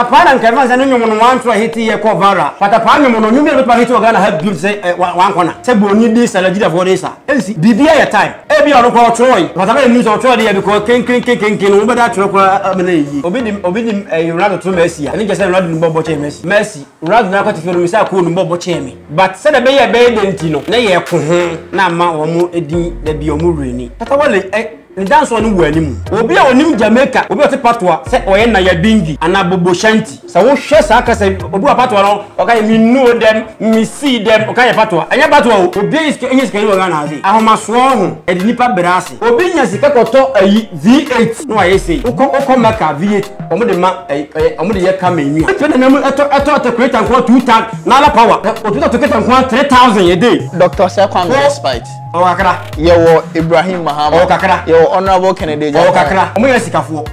Kwatapaa na nka ɛbɛba no sɛ ne nwom no wanto ahiti yɛ kɔ viral. Kwatapaa nwom no, nwom bi a ɛbɛtumi ahiti wɔ Ghana ha bio te sɛ eh, wa, wankɔ na, sɛ Buroni de sa, Nigeriafoɔ de sa. Ɛnsi. Biribiara yɛ time. Ebia ɔno koraa ɔtwerɛe. Kwatapaa yɛ nim sɛ ɔtwerɛe deɛ because kenkenkenkenken no, wobɛda atwerɛ koraa a, ama no ayɛ yie. Obi de, obi de eh, Ronaldo to Mercy a, n'ani gye sɛ Ronaldo nim bɔɔl bɔ kyɛn Mercy. Mercy, Ronaldo no akwatifo no, mesaa koo nim bɔɔl bɔ kyɛn me. But sɛdeɛ ɛbɛyɛ a ɛbɛyɛ dɛ nti no, na yɛko ho na ama wɔn edin da bi a wɔn werɛ nni. Tatawale eh. Agya nsoa no wɔ anim. Obi a ɔnim Jamaica obi a ɔte patoa sɛ ɔyɛ Naya Bingi anaa Bobo Shanti, sɛ wohwɛ saa kasa yi, obi wɔ patoa no, ɔka yɛ me know them, me see them, ɔka yɛ patoa. Ɛnyɛ patoa o. Obiara yɛ sika, ɛnyɛ sika ni wɔ Ghana ase. Ahomasoɔ ho, ɛde nnipa brɛ ase. Obi nya sika kɔtɔ ayi V8 na wayɛ sei. Wokɔ wokɔ Mecca V8 wɔn de ma ɛyi ɛyɛ wɔn de yɛ camel nwi a. Ɛtɔ nana mu ɛtɔ ɛtɔ ɛtɔ kreta nkoa two tan Nala power. Ɛ otu ɛtɔ kreta nkoa three thousand a day. Doctor Sir Kwame Respite. Ɔwɔ kakra. Yɛwɔ Ibrahim Mahama. Ɔwɔ kakra. Yɛwɔ Honourable Kennedy Agyapong. Ɔwɔ kakra. Wɔn yɛ sikafoɔ.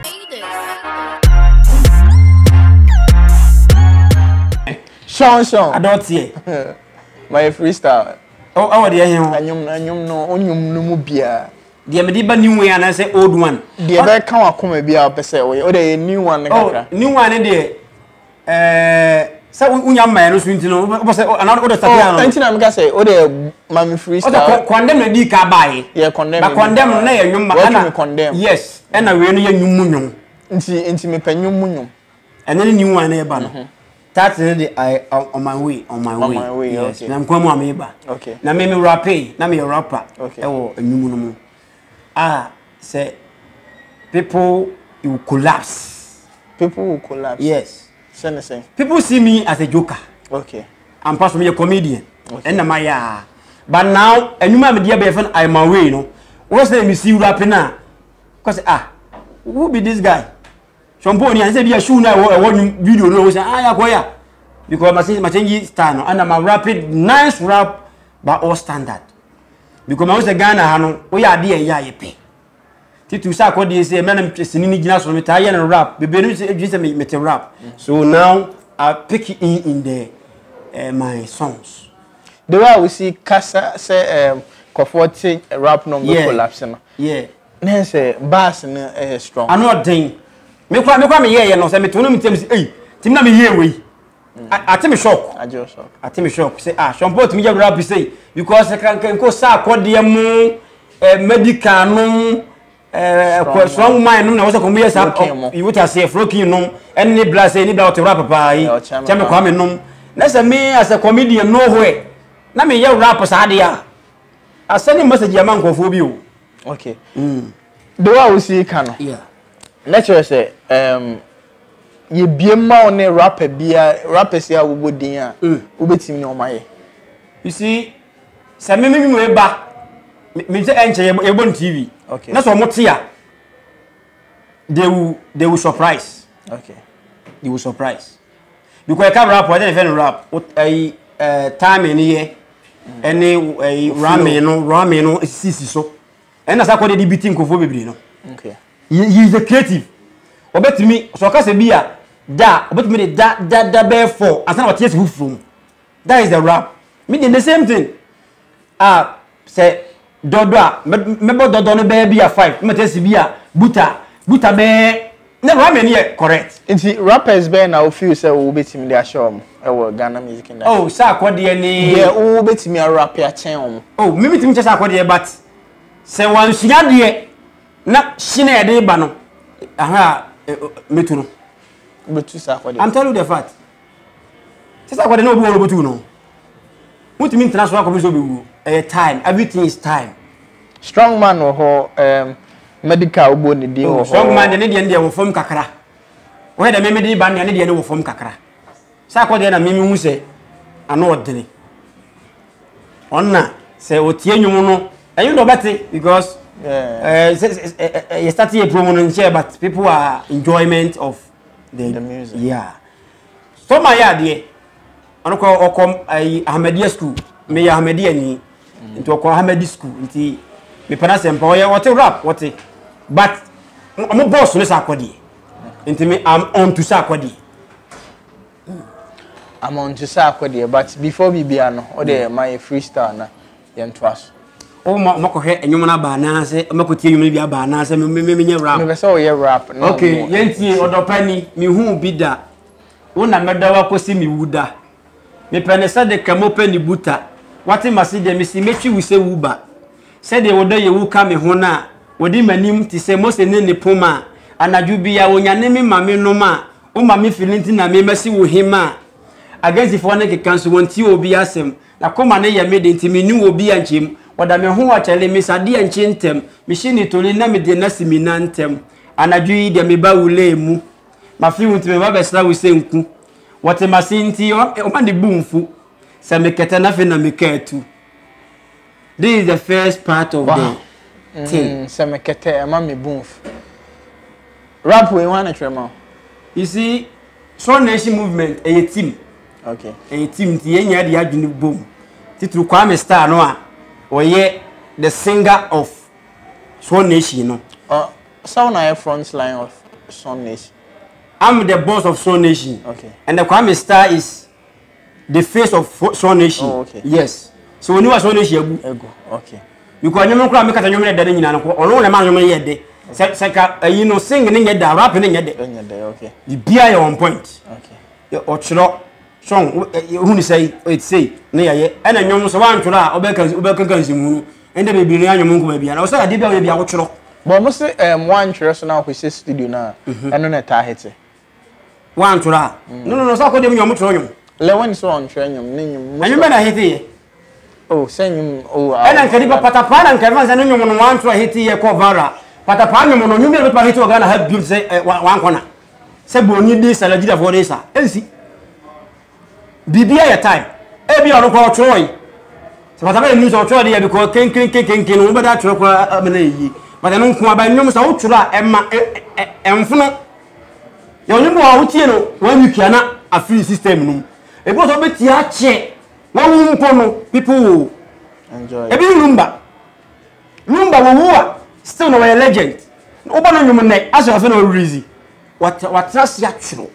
Sean Sean. Adɔteɛ. Mayɛ freestyle. Ɛwɔ deɛ he ho? Ɛnyom ɛnyom no onyom no mu biara. Deɛ mede ba new one anaasɛ old one. Deɛ bɛka wakoma biara pɛ sɛ wɔyɛ. Ɔdɛ yɛ new one ne kakra. Oh new one ne deɛ. sɛ wonya mmaeɛ no so nti no wobɛ sɛ ana wode sɛ bia no ɛnti na meka sɛ wode ma me free style ɔsɛ condemn na di ka baeɛ yɛ condemn ba condemn no na yɛ nwom ma ɛna condemn yes ɛna wei no yɛ nwom mu nwom nti nti mepɛ nwom mu nwom ɛna ne new one na ɛba no tax no de i on my way on my way, my way yes okay. na nkwa mu a meba okay. na me me rape na meyɛ rapper ɛwɔ okay. nwom no mu a sɛ people will collapse. people will collapse. yes. sɛ ne sɛ. people see me as a joker. okay. ampa so meyɛ comedian. okay. ɛnna ma yɛ a but now ɛnwuma a mede abɛyɛ fɛn i am away no wɔn sɛ mesi wura pe na kɔsɛ ah who be this guy sɔmpo ni anse bi a shoe na ɛwɔ ɛwɔ nwum video no wɔn sɛ ah yakɔ ya because ma se ma change style no ɛnna ma rapid nice rap ba all standard. because mahu sɛ ghana ha no woyɛ ade a ɛyɛ a yɛpɛ titi sɛ akɔdeɛ sɛ mmerɛ no sini no gyina so no metaa yɛ no rap bebree no adwene sɛ mete rap so now i pick in in the uh, my songs the way a wosi kasa sɛ um, kɔfoɔ te rap no mbɛ collapse no yeah na sɛ bass no ɛyɛ strong ano ɔden mekora mekora meyɛɛyɛ no sɛ meto no metam sɛ ei tim na meyɛɛ wei ate me shock ate me shock sɛ ah sɔmpɔ otumi yɛ rap sɛ because kankan nko saa akɔdeɛ mu eh, medical nom eh, kɔ strong woman nom na wɔsɛ kɔmu yɛ saa iwu ta se frokin nom ɛne bla sɛ ɛni bla ɔte rap paa yi kyɛ me kwame nom na sɛ me as a comedian no hwɛ na me yɛ rap saa deɛ a asɛne message ama nkurɔfoɔ bi o okay mm. de wa a wosi ka no na kyerɛ sɛ um, yɛbue ma wo ne rapper biara rappers yi a wobɔ din a wobɛtumi ne wɔn ayɛ. you see sɛ me me nwura ba me sɛ ɛnkyɛ yɛbɔ no tv na sɛ wɔn te a they will they will surprise okay. they will surprise because ɛka rap ɛdɛ ne fɛ no rap ɛyi ɛɛ timing ne yɛ ɛne ɛyi ramen no ramen no sisi so ɛna sakɔ de de bi ti nkofo bebree no. Okay. He he is a creative. Ɔbɛtumi sɛ ɔka sɛ bi a da a ɔbɛtumi de da da da bɛyɛ four ansa na wate ase foforɔ mu. That is the rap. Me deɛ the same thing. A sɛ dɔdɔ a mɛ- mɛbɔ dɔdɔ no bɛyɛ bi a five na mate ase bi a buta buta bɛyɛ na rhyming no yɛ correct. Nti rappers bɛn na wo feel sɛ wo bɛtumi de ahyɛ wɔn wɔ Ghana music industry? Oh Sarkor deɛ ne. Deɛ wo bɛtumi a rappe akyɛn wɔn. Oh me metumi kyɛ Sarkor deɛ but sɛ wansua deɛ. na hyi na yɛde ba no ahwɛ a metu no bɛtu saa akɔde i'm telling you the fact sɛ sɛ akɔde na obi wɔ no bɛtu no wotumi ntena so akɔpɛ sɛ obɛwuo ɛyɛ time everything is time strong man wɔ hɔ um, medical wobɔ ne din wɔ hɔ strong man deɛ ne deɛ ne deɛ wɔ fam kakra wɔyɛ dɛ memede ba nea ne deɛ ne wɔ fam kakra Saa kɔ deɛ na mimi hu sɛ ano ɔdene ɔna sɛ ɔtie nnwom no ɛnwo na ɔbɛte because eh, yɛ start yɛ promo no nkyɛ but people are enjoyment of the, the music yeah stoma yɛ adeɛ ɔno kɔ ɔkɔ ayi ahamadeɛ school meyɛ ahamadeɛ ni mm. nti ɔkɔ ahamadi school nti mepɛ na sɛ mpa ɔyɛ ɔte rap ɔte but ɔmo bɔɔso ne saa kɔ deɛ Nti me I'm on to sɛ akɔdeɛ. I'm on to sɛ akɔdeɛ but before biribiara no o deɛ ma yɛ freestyle na yɛn to aso. O ma ma kɔhwɛ ɛnwom no aba anaa sɛ ma kɔ tie ɛnwom no bi aba anaa sɛ me me me nyɛ rap. Mepɛ sɛ ɔyɛ rap. Okay yɛn tie ɔdɔpa ni mi hu bi da. Wo na mɛdɔ wa kɔsi mi wu da. Mepɛ ne sɛ de ka mo pɛ ne buta Wate mase deɛ mese mɛtwi wo sɛ wu ba Sɛdeɛ ɔdɔ yɛ wu ka me ho no a Ɔdi m'anim te sɛ Mose ne ne poma a Anadwo biaa ɔnyane me ma me nom a Wo ma me fili nti na me ma si wo hema a Agansifoɔ no keka nso wɔntie obi asɛm N'akoma no yɛ me de nti me ne obi ankyem Ɔda me ho a kyale me sa deɛ nkye ntɛm Mehye ne toli na mede no asi me nan ntam Anadwo yi deɛ meba wo lane mu Mafe wo nti meba bɛsra wo sɛ nku. Wɔte m'ase nti wɔma ne bo mfu. Sɛ mekɛtɛ no afei na meka atu. This is the first part of the thing. Mm, sɛ mekɛtɛ ɛma me bo mfu. Rap wei hwan na kyerɛ ma wo? You see, Swan Nation movement ɛyɛ team. Okay. Ɛyɛ team nti yɛn nyinaa de adwene bom. Titiri Kwame Star no a ɔyɛ the singer of Swan Nation no. Ɔsaw na ayɛ front line of Sun Nation. I'm the boss of Sun Nation. Okay. And the Kwame Star is the face of Sun Nation. Oh, okay. Yes. So when you are Sun Nation, egu. Egu. Okay. Because nyom nkura mi kata nyom yɛ dɛ ne nyina no ko. Ɔno na ma nyom yɛ dɛ. Sɛ sɛ ka ayi eh, no sing ne nyɛ dɛ, rap ne nyɛ dɛ. Nyɛ dɛ, okay. Bibia yɛ on point. Okay. Ɔkyerɛ song hu ne sɛ ɔyɛ sei ne yɛyɛ. Ɛna nyom so wantwerɛ a ɔbɛka ɔbɛka nsimu no. Ɛnde bebree no yɛanyɛ mo nkɔma biara. Ɔsɛ adeɛ bi a woyɛ bi a wotwerɛ. Bɔ mo se um, woantwerɛ so na wokɔhyɛ studio no a, mhm. ɛno na ɛtaa hete. Woantwerɛ a? Mm. No, no, no, sɛ akɔdeɛ mu nwom twerɛ nwom. Lewin sɛ ɔntwerɛ nwom ne nwom. Ɛnwom bɛ na heteeɛ? O, oh, sɛ nwom o. Oh, ah, Ɛna nka nipa patapaa na nka ɛfɛn sɛ ne nwom no woantwerɛ heteeɛ kɔ vara. Patapaa nwom no nwom bɛ na bɛtuma hete wɔ Ghana ha biom sɛ eh, wankɔna. Sɛ bɔnni de sa, Nigeriafoɔ de sa. Ɛnsi. biribi ayɛ tae ebi ɔno kora ɔtwerɛe sɛ bata bɛyɛ news ɔtwerɛ deɛ bikɔ kenkenkenkenken no wobɛda atwerɛ kora ama no ayie bata no nko aba nnwom sɛ wotwerɛ a ɛma ɛmfono yɛ ɔnwom bi wɔ a wotie no one week a na afiri system no mu ebi wɔ sɛ wobɛtie akyɛ wawu mpo no people will ebi ne lumba lumba wɔwu a still na wɔyɛ legend wobɔ no nnwom nnɛ asɛ afei na wɔrezi watena ase atwerɛ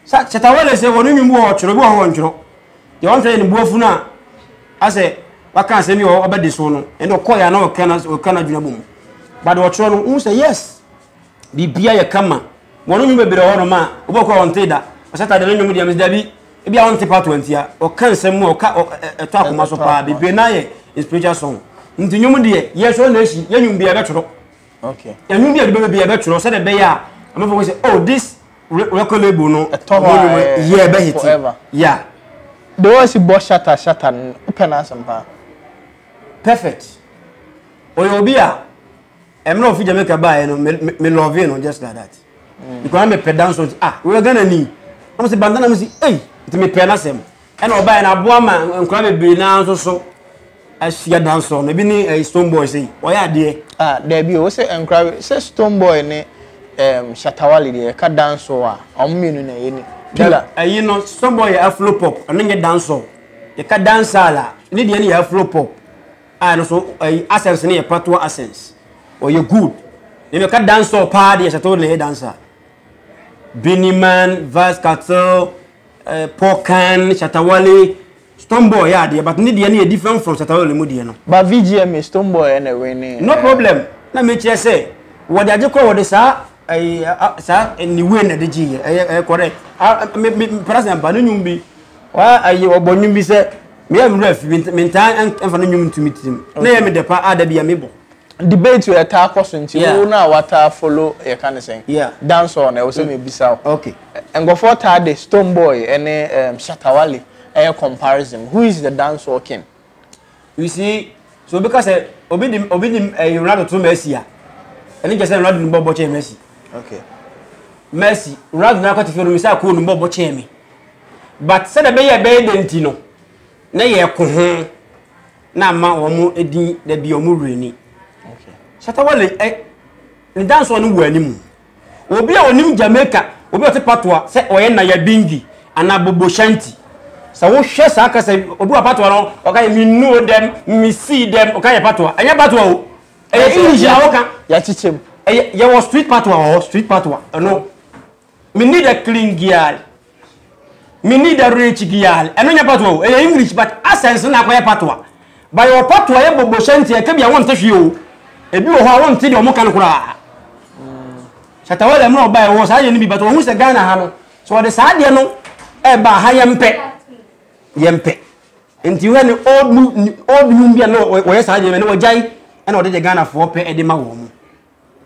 Sa Shatta Wale sɛ wɔn nnwom bi wɔ hɔ ɔtwerɛ, bi wɔ hɔ wɔntwerɛ. Deɛ wɔn sɛ yɛ ne buafu no a asɛ waka asɛm bi wɔ ɔbɛde so no, ɛnna ɔkɔ yɛ ana ɔka na ɔka na adwuma bɔ mu. But deɛ ɔtwerɛ no, wohu sɛ yes, biribiara yɛ kama. Wɔn nnwom bebree wɔ hɔ nom a, obi ɔkɔ a ɔntee da. Ɔsata deɛ ne nnwom deɛ mesi dabi, ebi a ɔnte part one tia. Ɔka nsɛm mu a ɔka ɛtɔ akoma so paa, bebree no ayɛ spiritual song. Nti nnwom deɛ, yɛ sɛ ɔna asi, yɛ nnwom biara ɛbɛtwerɛ. okay ɛnu bi a ɛdibɛ bi ɛbɛ twerɛ sɛdeɛ ɛbɛyɛ a ɛmɛ fɔ sɛ oh this record label no ɛtɔ hɔ a yɛ ɛbɛ hiti ya. de wɔn si bɔ shata shata no pɛ na asɛm paa. perfect ɔyɛ obi a ɛmɛ na ofi jamaica baa yɛ no me me love no just like that mm. because ɛmɛ pɛ dance on ah wɛrɛ ghana ni wɔn sɛ bantana mi si eyi nti mi pɛ na sɛm. Ɛna ɔbaeɛ no aboa ma nkwadaa bebree no ara nso so ahyia dansoɔ no ebi ne ɛyɛ stone boy sei ɔyɛ adeɛ. ah daabi o sɛ nkwadaa sɛ stone boy ne um, shatawale deɛ ɛka dansoɔ a wɔn mmienu na ɛyɛ ni dala. ɛyi no stone boy yɛ afro pop ɛno nyɛ dansoɔ yɛka dansala ne deɛ no yɛ afro pop a ɛno so ɛyi accents no yɛ patoa accents ɔyɛ good na yɛka dansoɔ paa deɛ shatawale na ɛyɛ dansa biniman vast cattle. uh, Pokan, Shatawale, Stonebwoy yeah deɛ but ne deɛ no yɛ different from Shatawale mu deɛ no. Ba VGMA Stonebwoy ɛna wene. No problem na me kyerɛ sɛ wɔde agye kɔ wɔde saa ɛyi saa ne wei na de gye yɛ ɛyɛ ɛyɛ correct ah me me president ba ne nwom bi wa ɛyɛ ɔbɔ nwom bi sɛ me yɛ nwura fi me ntaa ɛnfa ne nwom ntumi tirim na yɛ me dɛpa a da bi yɛ me bɔ. debate wei ɛtaa kɔ so nti Yeah. wo na wataa follow yɛka ne sɛn Yeah. dancehall na ɛwɔ sɛ mebisa wo Okay. nkurɔfoɔ taa de stone boy ne um, shatawale ɛyɛ comparison who is the dancehall king You see, so obi ka sɛ obi de obi de ɛyi Ronaldo to Messi a, ɛne kyɛ sɛ Ronaldo ne bɔ bɔ kyɛn Messi. okay Messi, Ronaldo na akɔte fie no misɛ akoo ne bɔ bɔ kyɛn me. But sɛdeɛ ɛbɛyɛ ɛbɛyɛ dɛ nti no, na yɛko ho. na ama wɔn din da bi wɔn wura ni shatawale ɛ eh, ne dansoɔ no wɔ anim obi a ɔnim jamaica obi a ɔte patoa sɛ ɔyɛ naya bingi anaa bobo shanti sɛ wohwɛ saa kasa obi wɔ patoa no ɔka yɛ menuo dɛm mesii dɛm ɔka yɛ patoa ɛnyɛ patoa o ɛyɛ english na woka yɛkyekyɛm yɛwɔ street patoa wɔ hɔ street patoa ɛno Me need a clean girl. Me need a rich girl. Ɛno nyɛ patoa o. Ɛyɛ English but accents na akɔyɛ patoa. Ba yɛ wɔ patoa yɛ bobo hyɛ nti ɛka bi a wɔnte hwee o. Ebi wɔ hɔ a wɔnte deɛ wɔn ka no koraa. Shatawale mu na ɔba ɛwɔ saa yɛ no bi but wɔn sɛ Ghana ha no. So wɔde saa deɛ no ɛba ha yɛn pɛ. Yɛn pɛ. Nti wɔn ne old new old new bi a na wɔyɛ saa deɛ no wɔgyae ɛna wɔde deɛ Ghana foɔ pɛ ɛde ma wɔn.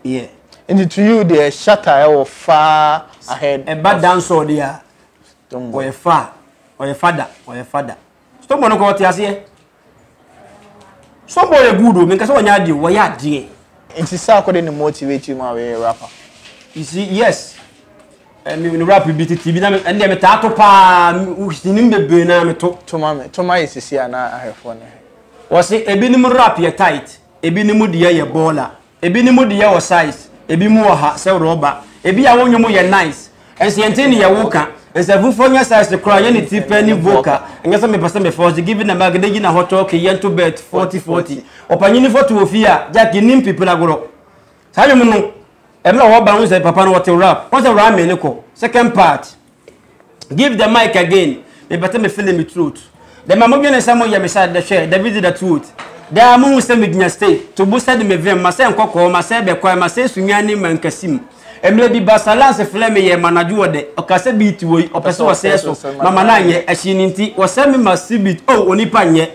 Yeah. Nti to you deɛ shatter ɛwɔ eh, far ahead. Ɛba eh, dancehall deɛ a. Stonebwoy. Ɔyɛ fa ɔyɛ fada ɔyɛ fada. Stonebwoy no kɔ ɔte aseɛ. Stonebwoy yɛ good o mi nkasa wɔnyɛ adeɛ o wɔyɛ adeɛ. Nti saa akɔde ne motivate mu a wɔyɛ rapper. You see yes. Ɛmi eh, ne rap bi titi bi na mi ɛnna mi taa to paa sinim bebree na mi to. Toma mi toma yɛ sisi a na ahwɛfoɔ ne. Wɔsi ebinom rap yɛ tight Ebinom deɛ yɛ baller. Ebinom deɛ wɔ size. Ebi mo wɔ ha sɛ rɔba. Ebi a wo nwom yɛ nice. Nso yɛ nte neɛ wo ka. Nsa fufuo nyɛ size koraa yɛ ne ti pɛ ne vocal. Nyɛ sɛ me pɛ sɛ me force giving a mic de gyina hɔ talking yɛ nto bet forty forty. Ɔpanyini foto wɔ fie a Jack nnim pipi na gorɔ. Saa nwom no ɛberɛ a ɔba wohu sɛ papa no ɔte rap. Wohu sɛ rhyming no kɔ second part. Give the mic again. Me bɛtɛ me feeling me throat. The ma mo dwene sɛ mo yɛ me sa the hwɛ the visit the throat. Daa mo hu sɛ me gyina stay. To bo sɛ de me vim ma sɛ nkɔkɔɔ ma sɛ bɛ kwae ma sɛ sunyan ne ma nkasim. Emre bi ba salance flɛ me yɛ ma na dwo ɔdɛ. Ɔka sɛ beat wɔ yi ɔpɛ sɛ ɔsɛ so ma ma na nyɛ. Ɛhye ne nti wɔsɛ me ma si beat oh onipa nyɛ.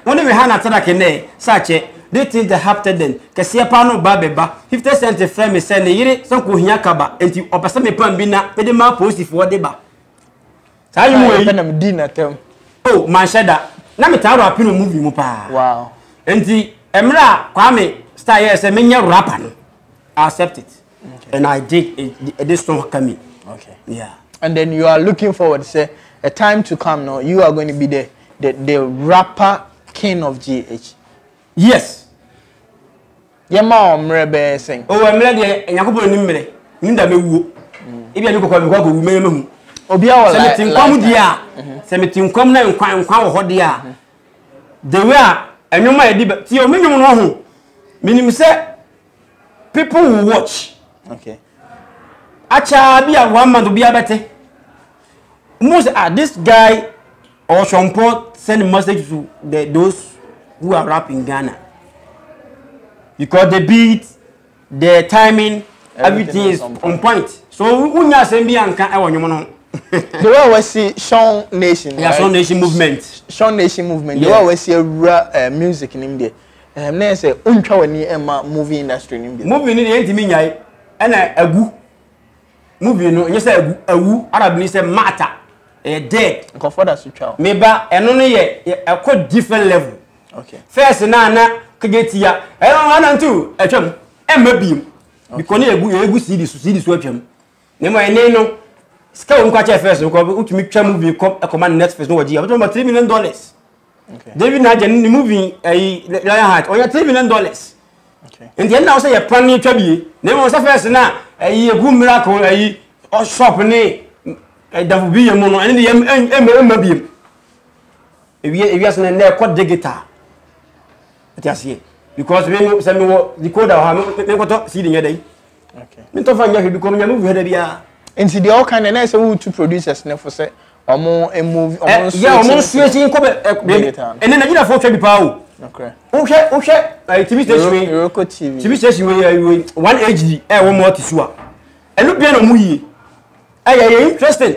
Wɔn ne Rehana Tadak nnɛ, Sache, These Things That Hapted Then, kɛseɛ paa no ba bɛ ba. Fifty Cent frɛ me sɛ ne yere sɛ nkohia kaba nti ɔpɛ sɛ me pam bi na me de ma apolisifoɔ de ba. Saa nwom wei. Ɛna me di n'atam. Oh, manhyɛ da. Na me taa rapi no movie mu paa. Wow. Nti, mmerɛ a Kwame Star yɛɛ sɛ menyɛ rapper no, I accept it. and i did ɛde so ka mi. okay yeah. and then you are looking forward sɛ a time to come no you are going to be the the the rapper king of gh. yes. yɛ ma wɔn mmerɛ bɛyɛ sɛn. o oh, mmerɛ deɛ nyankopɔn ni mmerɛ ni da mɛ wuo ebi a mi kɔkɔ mi kɔ akɔ wu mɛ yɛ mɛ hu. obi awɔ la la sɛ mi ti nkɔm deɛ a mm-hmm. sɛ mi ti nkɔm na nkwa nkwa wɔ hɔ deɛ a mm-hmm. the way a ɛnwom a yɛde ba ti o mi nwom no ho mi nim sɛ. people will watch okay akyaa bi a one month obi abɛte mo sɛ ah this guy or sompɔ send message to the those who are rap in ghana because the beat the timing everything is on point so wunya asɛm bi anka ɛwɔ nwom no the way we see Sean Nation, yeah, right? Sean Nation movement, Sean Nation movement. The way we see a uh, music in India. Ɛhɛm na ɛyɛ sɛ wontwa w'ani mma movie industry no bio. Movie no deɛ ɛntumi nyae ɛna agu movie no nyɛ sɛ agu awu Arab ni sɛ mata ɛyɛ dead. Nkɔfoɔ da so twa o. Me ba ɛno no yɛ ɛkɔ different level. Okay. First na na kagye tia ɛno no ana nti atwam ɛmma biem because ne yɛgu yɛgu CD so CD so atwam na mmɔ ɛne no sika wɔn kɔ akyɛ first no kɔ wotumi twa movie kɔ ɛkɔma Netflix no wɔgye a wotumi ma three million dollars. david na agya ne movie ayi lion heart ɔyɛ three million dollars nti ɛnna wo sɛ yɛ pan ne twa bie na mmom sɛ fɛs no a ayi ɛgu miracle ayi shop ne ɛdafo bi yɛ mu no ɛne de yɛ mma biem ewiase no nnɛ ɛkɔ digital ɛte aseɛ because me sɛ mewɔ decoder wɔ ha menkɔtɔ sii de nyɛ dɛn ne ntɔfa nyɛ hwɛ bi kɔm nyame hwɛ da biara nti deɛ ɔka no na ɛsɛ wotu producers no fo sɛ ɔmo move ɔmo eh, nsuo akyi ɔmo nsuo akyi nkɔ bɛ ɛnɛ Nigeria fo twɛ bi paa o wohwɛ wohwɛ eh, tv station wei Iroko tv tv station wei eh, wei one hd ɛwɔ mo ɔte so a ɛno bia na ɔmo yie ɛyɛ yɛ interesting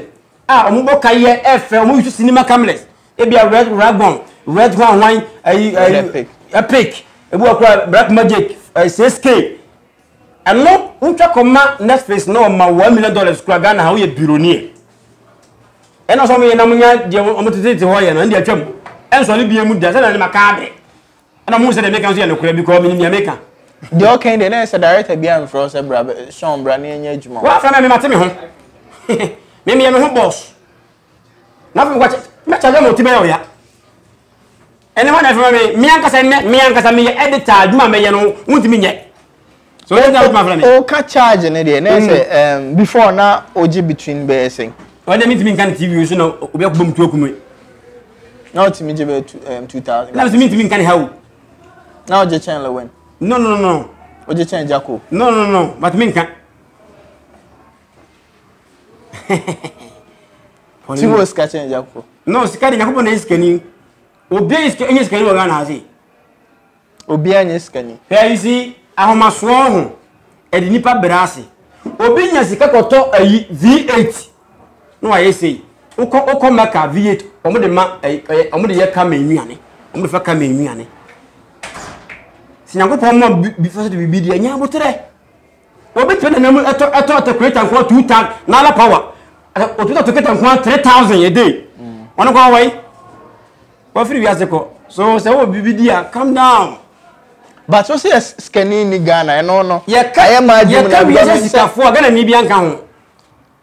a ah, ɔmo bɔ ka yɛ ɛfɛ ɔmo yi so cinema cameras ebi a red ragon red hwan hwan ɛyi ɛyi epic ebi wɔ kora black magic ɛyi six k. Ɛno wotwa kɔ ma Netflix na ɔma one million dollars kura Ghana ha woyɛ bironi ɛ. Ɛna sɛ ɔmo yɛ nam nya deɛ ɔmo tete te hɔ yɛ no ɛna deɛ atwam ɛnsɔ ne bie mu da sɛ na ne ma kaa de ɛna ɔmo sɛ deɛ meka nso yɛ nokorɛ because menim deɛ meka. Deɛ ɔka yi deɛ na ɛsɛ director bi amfrɛ wo sɛ bra Sean bra na yɛnyɛ adwuma. Wafrɛ me mema te me ho me meyɛ me ho boss na afei mekɔ mɛkyɛ sɛ mo ti bɛyɛ ɔya Ɛnna wɔn na ɛfama me me ankasa nnɛ me ankasa meyɛ editor adwuma a mɛyɛ no wontumi nyɛ so ɛsɛ wotumi afra me. ɔka charge no deɛ na sɛ um, before na ɔgye between bɛyɛ sɛn. ɔde mentumi nka no tv nso na obi akɔbɔ mu tu aku me. na ɔtumi gye bɛyɛ two um, two thousand. na nso mentumi nka ne ha o. na ɔgye kyɛn lewin. no no no. ɔgye kyɛn jako. no no no matumi nka. ti wɔ sika kyɛn nyankopɔn no sika de nyankopɔn na yɛ sikani obiara yɛ sikani nyɛ sikani wɔ ghana ase obiara nyɛ sikani hwɛ yi si ahomasoɔ ho ɛde nipa brɛ ase obi nya sika kɔtɔ ayi v8 na wayɛ sei wokɔ wokɔ mɛka v8 wɔn de ma ɛyɛ eh, eh, wɔn de yɛ kama nnuane wɔn de fa kama nnuane si nyankopɔn ma bi fa so de biribi deɛ nya aboterɛ Obetumi nenam mu ɛtɔ ɛtɔ ɛtɔ kreta nko ara two tan n'ala power ɛ otumi tɔ kreta nko ara three thousand a day wɔn kɔ wɔyi wɔfiri wiase kɔ so sɛ wɔwɔ biribi di a calm down. but o si yɛ sikani ni ghana ɛno no ayɛ maa dwom na yɛka wiase sikafoɔ a ghana ni bi anka ho.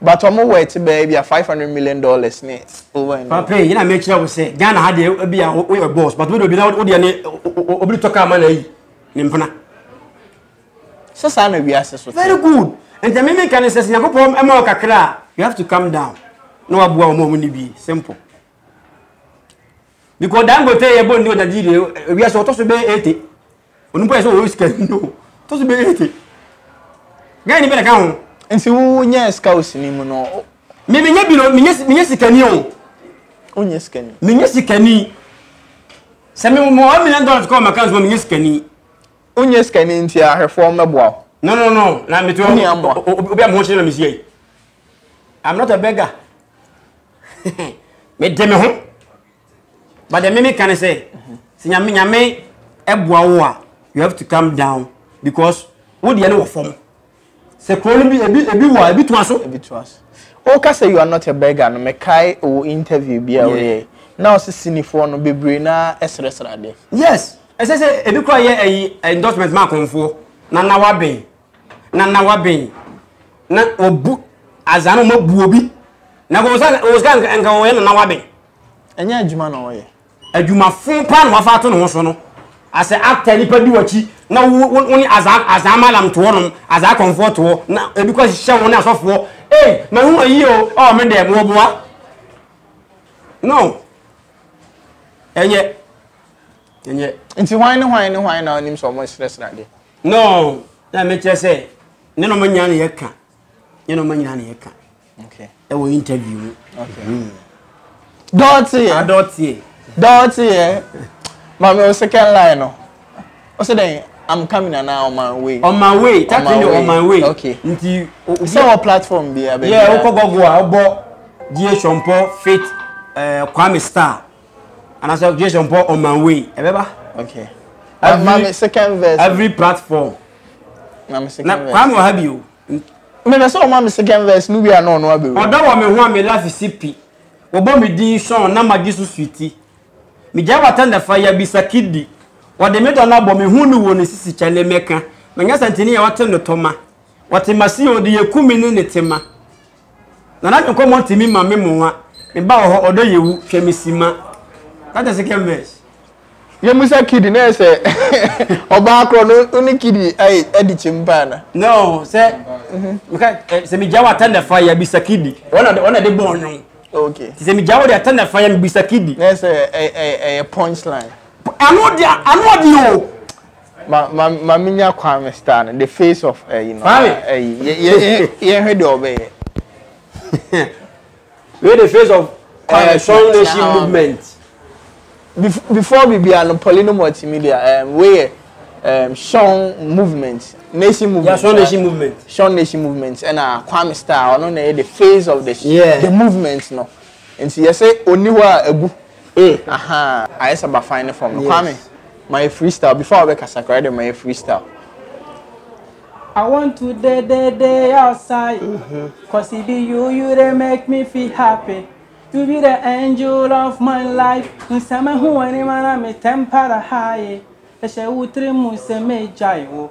But ɔmo wɔ ɛte bɛyɛ bi a five hundred million dollars ne over and over. Pape yìí na mi kyerɛ wo sɛ Ghana ha deɛ ebi a wo yɛ boss but wo de obi na wo deɛ ne obi de tɔ kaa ma na ayi ne mpena. Sɛ saa na wiase so te. Very good. Nti mi mi ka ne sɛ sɛ Nyankopɔn ɛma wo kakra a you have to calm down na waboa wɔn a wɔn ni bi simple. Because Dangote yɛ bɔ nni wɔ Nigeria wiase ɔtɔ so bɛyɛ eighty. Onipa yɛ sɛ ɔwɔ sika no ɔtɔ so bɛyɛ eighty. Ghana ni bɛ na ka ho. Nti wo nyɛ scouts ni mu no. Me me nyɛ bi no me nyɛ me nyɛ sika ni o. O nyɛ sika ni. Me nyɛ sika ni. Sɛ me mo one million dollars kɔ ma kan so me nyɛ sika ni. O nyɛ sika ni nti ahwɛfoɔ mbɛboa. No no no na me to obi a mo ho kyerɛ na me si ai. I'm not a beggar. me de me ho. But the meme can say, si nyame nyame ɛboa wo a, you have to come down because wo deɛ no wɔ fam. Sɛ kuro no bi ebi ebi wɔ a ebi to aso. Ebi to aso. O ka sɛ you are not a beggar no, me kae o interview bi a o yɛ. Na o si sinifoɔ no bebree na ɛsrɛsrɛ adeɛ. Yes, ɛsɛ sɛ ebi kura yɛ ɛyi endorsement ma akɔnfoɔ na na wabɛn. na na waben na wabu azaa na ɔma buo bi na nka ɔsa ɔsa nka nka ɔyɛ na na waben. ɛnyɛ adwuma na ɔyɛ. adwumafo paa na wafa ato ne ho so no asɛ after nipa di wakyi na wo wo wo ne azaa azaa malam toɔ nom azaa kɔnfoɔ toɔ na ebi kɔ hyehyɛ wɔn ne asɔfoɔ ee ma hu ayi o ɔɔ me dɛm wɔ boa no ɛnyɛ ɛnyɛ. nti hwan ne hwan ne hwan na ɔnim sɛ ɔmo srɛsrɛ ade. No, na mekyerɛ sɛ ne no manya ne yɛka ne no manya ne yɛka ɛwɔ interview mu dɔɔteɛ adɔɔteɛ dɔɔteɛ maame o second line no o sɛ dɛn i'm coming and now on my way on my way that thing on my way okay nti sɛ wɔ platform bi abɛ yeah wokɔ gɔgo a wobɔ die sɔmpɔ fit eh, kwame star anasɛ objection pɔ on my way ɛbɛba okay every mami second verse every platform mami second verse na kwame wɔ ha bi o mɛmɛ sɛ ɔma mi second verse no wi a na ɔno abɛwura ɔdɔ wɔ mi ho a mi lafi si pi wɔbɔ mi din sɔn na ma gye so suiti mi gya wɔ atɛn dafa ya bi sakidi wɔde mi dɔ na bɔ mi hu ni wɔ ne sisi kyɛ ne mɛka mɛnyɛ santini yɛ wɔte ne tɔma wɔte ma si yɛ ɔde yɛ kumi ne ne tema. Nana me nkɔmɔ ntimi ma me mo wa Me ba wɔ hɔ ɔdɔ yɛ wu hwɛ me si ma That's the second verse. Yɛ mu sɛ kidi na yɛ sɛ ɔbaa korɔ no wo ne kidi ayi adi kyim paa na. No sɛ me ka sɛ me gya wɔ atɛ na fa yɛ bi sa kidi ɔna ɔna de bɔ ɔnwom. Okay. Ti sɛ me gya wɔ de atɛ na fa yɛ me bi sa kidi. Na yɛ sɛ ɛyɛ punchline. Ano de ano de o. Ma ma ma mi nya Kwame star no the face of ɛyi no. Kwame. Ɛyi yɛ yɛ yɛ hwɛ deɛ ɔbɛyɛ. Wei the face of ɛɛ eh, strong nation ah. movement. Before bibia no Paulino multimedia ɛɛm wei yɛ ɛɛm strong movement nation movement. Yeah, strong nation movement. Strong nation movement ɛna Kwame star ɔno na yɛ the face of the yeah. the movement no nti yɛ sɛ oni hɔ a egu. Ee ahaa ayɛ sɛ bafan ne fam no Kwame ma yɛ freestyle before a wobɛkasa koraa de ma yɛ freestyle. I want to dey dey dey outside Cause it be you you dey make me feel happy You be the angel of my life Sɛ mehu w'anim a na me temperature high Ɛhyɛ wo tiri mu sɛ megyae wo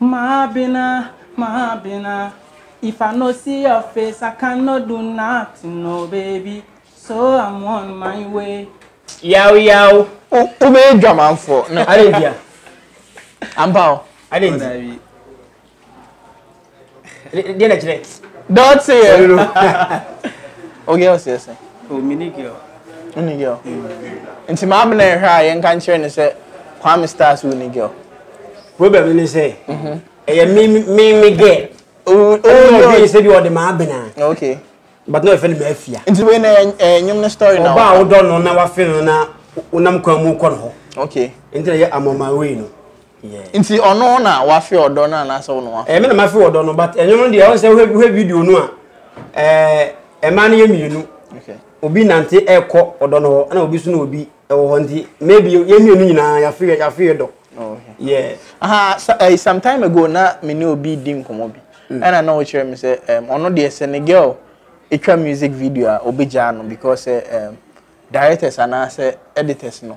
Maabena, Maabena, If I no see your face, I can no do nothing, no baby, so I'm on my way. Yaw yaw. Wo wo bɛ yɛ dwamanfoɔ. Arentia. Ampa o. Arentia. Deɛ na kyerɛ. Dɔte yɛ. O girl sɛ sɛ. O oh, mini girl. Mini girl. Mm. Nti maa bena ɛhwɛ a yɛn ka nkyerɛ ne sɛ Kwame Stars wo ni girl. Problem ne sɛ. Mhm. Ɛyɛ mi mi mi girl. O o girl. Ɛyɛ mi sɛ bi ɔde maa bena. Okay. But no ɛfɛ ne maa fia. Nti wei na ɛyɛ nyom ne story na. Ɔbaa wodɔ no na wafɛ no na wonam kwan mu kɔ no hɔ. Okay. Nti na yɛ amɔmaa wei no. Nti ɔno na wafe ɔdɔ no anaasɛ wo na wafe? Ɛmi na mafe ɔdɔ no but ɛno no deɛ ɔn sɛ wohwɛ video no a ɛɛ mmaa no yɛ mmienu obi nante ɛkɔ ɔdɔ no hɔ ɛna obi so na obi ɛwɔ hɔ nti maybe yɛn mmienu nyinaa yafe yɛ yafe yɛ dɔ. Oh, yeah. Aha so, uh, some time ago na me ne obi di nkɔmɔ bi mm. ɛna na ɔkyerɛ me sɛ ɔno deɛ sɛ ne girl ɛtwa music video a ɔbɛgyaa no because um, directors anaasɛ editors no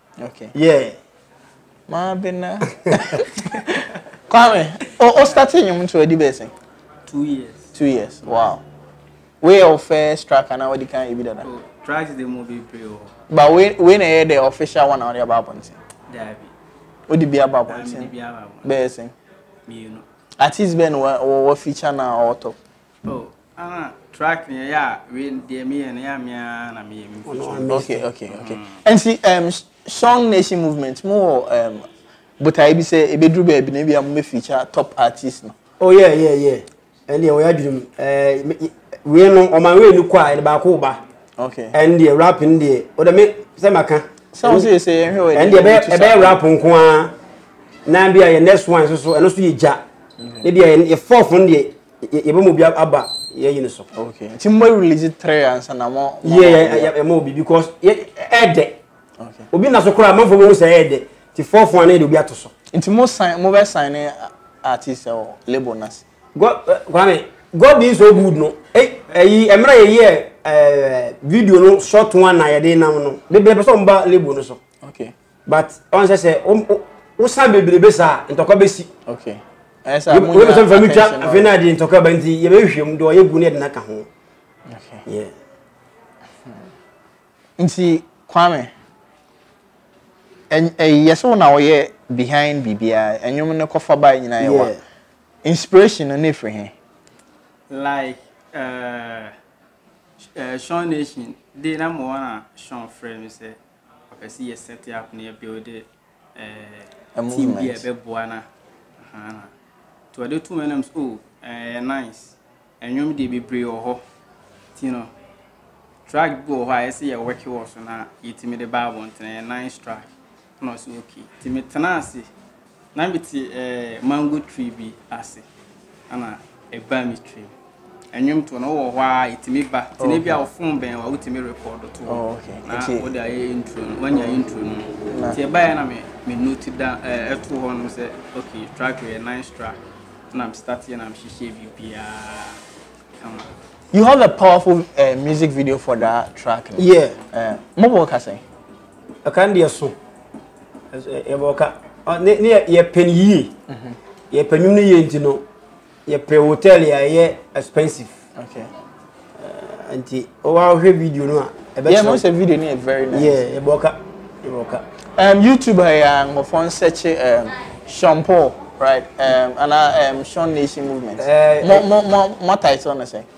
Okay. Yeah. Maa bi na. Kwame, o o start enyim nti ɔdi bɛsɛn. Two years. Two years. Wow. Wei yɛ first track anaa wɔde kan ebi dada. Oh, tracks de mu bebree wɔ. But wei wei na ɛyɛ the official one a wɔde aba abɔnten. Daabi. Wodi bi aba abɔnten. Bɛyɛ sɛn. Mmienu. Artist bɛn na wɔ wɔ feature na ɔwɔ top. Oh ana track ni ɛyɛ a wei deɛ mi yɛ no yɛ a mi ara na mi yɛ mi nfutu. Ɔno amazing. Okay okay okay. Nti um, Song Nation Movement mo wɔ um, botaeɛ bi sɛ ebeduru baabi na ebi a mo bɛ feature top artist no. Oh yeah yeah yeah. Ɛndeɛ wɔyɛ adwene mu. Ɛɛ me- ye- wei no ɔman wei ni kɔ a yɛde baako ba. Okay. Ɛndeɛ rap no deɛ o de me sɛ ma ka. Sɛ wɔn sɛ sɛ yɛn hwɛ wɔ Ɛndeɛ ɛbɛyɛ ɛbɛyɛ rap nko ara na bi a yɛ next one nso so ɛno nso yɛ gya. Ne bi a yɛ yɛ fourth no deɛ yɛbɛ mo bi aba yɛ yini so. okay nti mo release three ansa na mo. yɛ yɛ yɛ mo bi because yɛ ɛɛdɛ. okay obi na so koraa amanfo bɛ ho sɛ ɛɛdɛ ti four fun anayɛ de obi ato so. nti mo sign mo bɛ sign ne artist ɛwɔ label na se. god kwame god being so good no ɛyi ɛmira yɛ yɛ ɛɛ video no short one na yɛ de nam no bebere pɛ sɛ ɔmo ba label no so. okay but ɔn sɛ sɛ wosan bebrebe saa ntɔkwa bɛsi wobɛsɛ mfa no twa afei no ade ntɔkwa ba nti yɛbɛhwehwɛm de ɔyɛ gu ne ɛde no aka ho nti kwame yɛ sɛ wo na woyɛ behind biribiaa ɛnwom no kɔfa ba nyina yɛwa inspiration no ne ɛfiri he like uh, uh, Sean Nation de na mo wɔn a Sean frɛ mi sɛ Ɔpɛ sɛ yɛ set up na yɛ build eh, team bi a ɛbɛboa no a. Nti ɔde to hɔ nam sɛ oh, ɛyɛ nice. Ɛnwom deɛ bebree wɔ hɔ. Nti no, track bi wɔ hɔ a ɛyɛ sɛ yɛ work wɔ so na yɛtumi de ba abɔnten. Ɛyɛ nice track. Na ɔsɛ okay. Nti metena ase Na me te eh mango tree bi ase ɛna ɛbaa me tirim ɛnwom to no wɔ hɔ a ɛtumi ba te ne bi a ɔfon bɛn wa wotumi rekɔdo to oh, na wode ayɛ intro no wanya mm. intro no mu te ɛbaeɛ na me me note da ɛto hɔ nom sɛ okay track yɛ nice track na me start yɛ na me hyehyɛ biribiara kama You have a powerful uh, music video for that track. Yeah. Uh, eh, mobile casting. Ɛka no deɛ so yɛbɔ ka ne ne yɛpɛ no yie mhm. yɛpɛ nnwom no yie nti no yɛpɛ hotel a ɛyɛ expensive eh, nti wɔahwɛ video no a ɛbɛkyerɛ video no yɛ very nice yeah yɛbɔ ka yɛbɔ ka um, youtube ha yɛ a nkurɔfoɔ nsɛkye um, sean paul right um, anaa um, sean nation movement uh, mo mo mo mo title no sɛ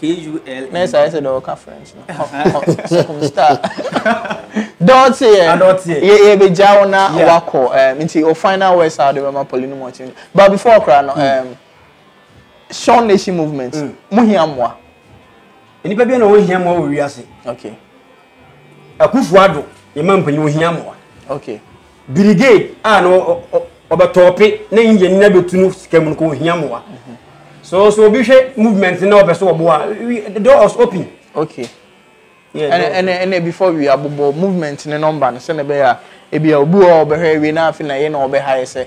K-U-L-N. Nurse ayɛ sɛ deɛ ɔka French no. Circumstar. Dɔɔte yɛ. Adɔɔte yɛ. Yɛ yɛ bɛ gya wo na Yeah. wakɔ ɛm nti o final words a ɔde bɛ ma pɔli no mu ɔkye. But before koraa no ɛm Sean Nation movement Mm. mo hia mmoa. Nnipa bi na wɔn hia mmoa wɔ wiase. Okay Akufo Addo yɛ ma mpanyin wɔn hia mmoa. okay. Birigade a na ɔbɛtɔɔpe na India nyinaa bɛtu no sika mu no kɔ ohia mmoa. So so obi hwɛ movement na ɔpɛ so ɔboa the door was open. Okay. ɛne ɛne before we abobɔ movement ne nɔmba no sɛ na ɛbɛyɛ a ebi a obi wɔ ɔbɛhwɛ awie na afei na yɛ na ɔbɛha yɛ sɛ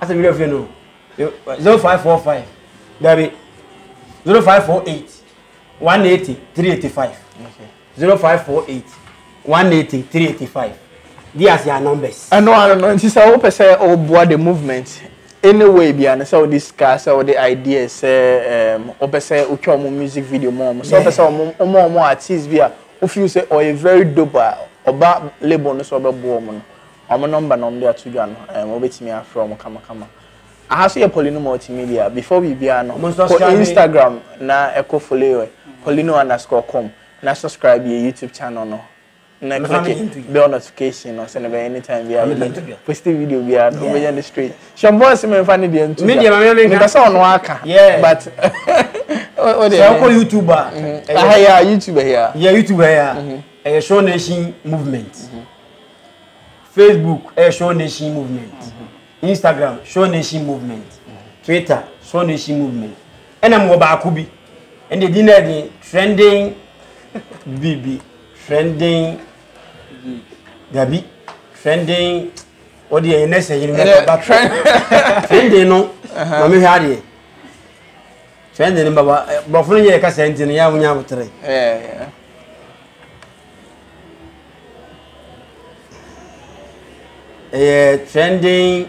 asɛ meyɛ fie no 0545 dabi 0548 180 385 0548 180 385 di ase a numbers ɛno ano no nti sɛ wopɛ sɛ woboa the movement any way bia no sɛ wode sika sɛ wode ideas sɛ wopɛ sɛ wotwa ɔmo music video mu ɔmo sɛ wopɛ sɛ ɔmo ɔmo artist bi a wo feel sɛ ɔyɛ very dope a ɔba label no sɛ ɔbɛboa ɔmo no ɔmo number na ɔmo de ato dwa no ɛɛm wobɛtumi afrɛ ɔmo kama kama aha so yɛ Paulino Multimedia before biribiara no kɔ Instagram na ɛkɔ follow yɛ Paulino underscore com na subscribe yɛ YouTube channel no na click bell notification no sɛ na bɛyɛ anytime biara positive video biara no wobɛnya no straight. Hyɛ voice mi nfa ne deɛ ntu Me deɛ ma me nka. Mepɛ sɛ ɔno aka. Yeah. But o deɛ. Sɛ ɔkɔ YouTube a. Aha yi a YouTube ɛyɛ a. Yɛ YouTube ɛyɛ a. Ɛyɛ Sure Nation movement. Facebook ɛyɛ Sure Nation movement. Instagram Sure Nation movement. Twitter Sure Nation movement. Ɛna mo wɔ baako bi. Ɛna edi na ɛdi trending bibi trending dabi trending. o deɛ yɛ nɛsɛ yiri mɛ ba trending no ma mi hwɛ adeɛ trending no baba borɔfo no yɛ kasa nti no yɛ a mo nya abotere. ɛyɛ trending.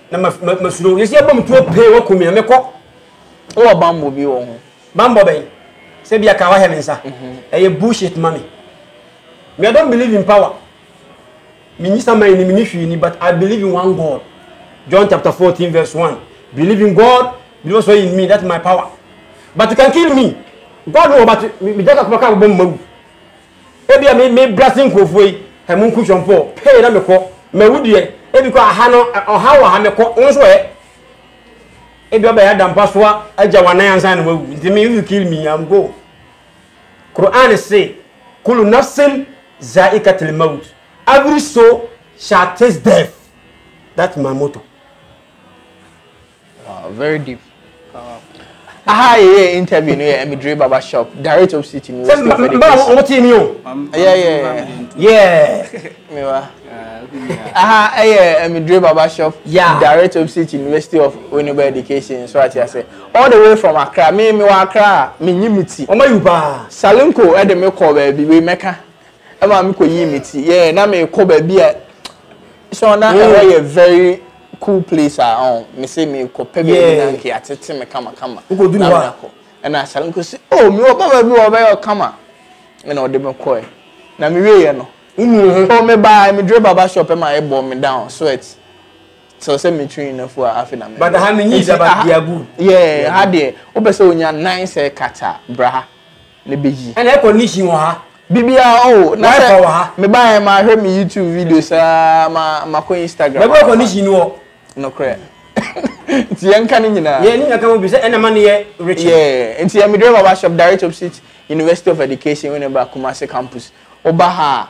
na ma ma ma suro yɛsi abɔ mu tuo pee wɔ kumia mekɔ. wɔ bambɔ bi wɔ ho. bambɔ bɛn sɛ bi aka wahɛ me nsa mhm. ɛyɛ bullshit ma me me i don't believe in power me nyi saman ni me ni hwii ni but i believe in one god john chapter fourteen verse one believe in god believe also in me that's my power but you can kill me god wɔ but me gya kakoma kaa bɔ mu ma wu Ebia me me brase nkurɔfoɔ yi ɛ mo nku twɔmpɔ pee na mekɔ mawu deɛ ebi kɔ aha no ɔha wɔ ha mekɔ wo nso ɛ ebi ɔbɛyɛ adampa soa agya wɔn anan ansa na wawu nti me if you kill me am go Quran se kulu nafsin zaikatil maut every soul shall taste death that's my motto Wow, very deep. Uh, aha yɛ interview no yɛ Emidre Baba shop direct opposite mi west of the place. Mba o ti mi o. Yeah yeah yeah. Mi wa. Aha ɛyɛ Emidre Baba shop yeah. direct opposite University of Winneba Education so ati ase all the way from Accra mi mi wa Accra mi nyi mi ti. Ɔmɔ yi paa. Salinko ɛde mi kɔ baabi wei mɛka ɛma mi kɔ yi mi ti yɛ na mi kɔ baabi a so na ɛwɔ yɛ very. cool place a ɔn oh, me se me kɔ pɛ baabi na nka yɛatete me kama kama na me akɔ ɛna asare nko se o oh, me wɔ baba bi wɔ ɔbɛyɛ ɔkama ɛna ɔde me kɔɛ na me wieɛ no o oh, me baa me dure baba shop ɛma ɛbɔ me down sweat sɛ sɛ me tiri na fu a afe na me but ha ne nyi sɛ ba diabu yeah ha deɛ wopɛ sɛ onya nine sɛ kata bra ha ne bɛyi. Ɛna ɛkɔ ne hyi wɔ ha. Bibia o oh, na sɛ me ba yɛ ma hwɛ me YouTube video saa ma ma kɔ Instagram. Bɛbɛ kɔ ne hyi no. No korɛ. Nti yɛn ka ne nyinaa. Yɛn ne nyinaa ka mo bi sɛ ɛna ma ne yɛ rich. Yeah. Nti yɛ me driver ba shop direct opposite University of Education wɔ ne ba Kumasi campus. Oba ha.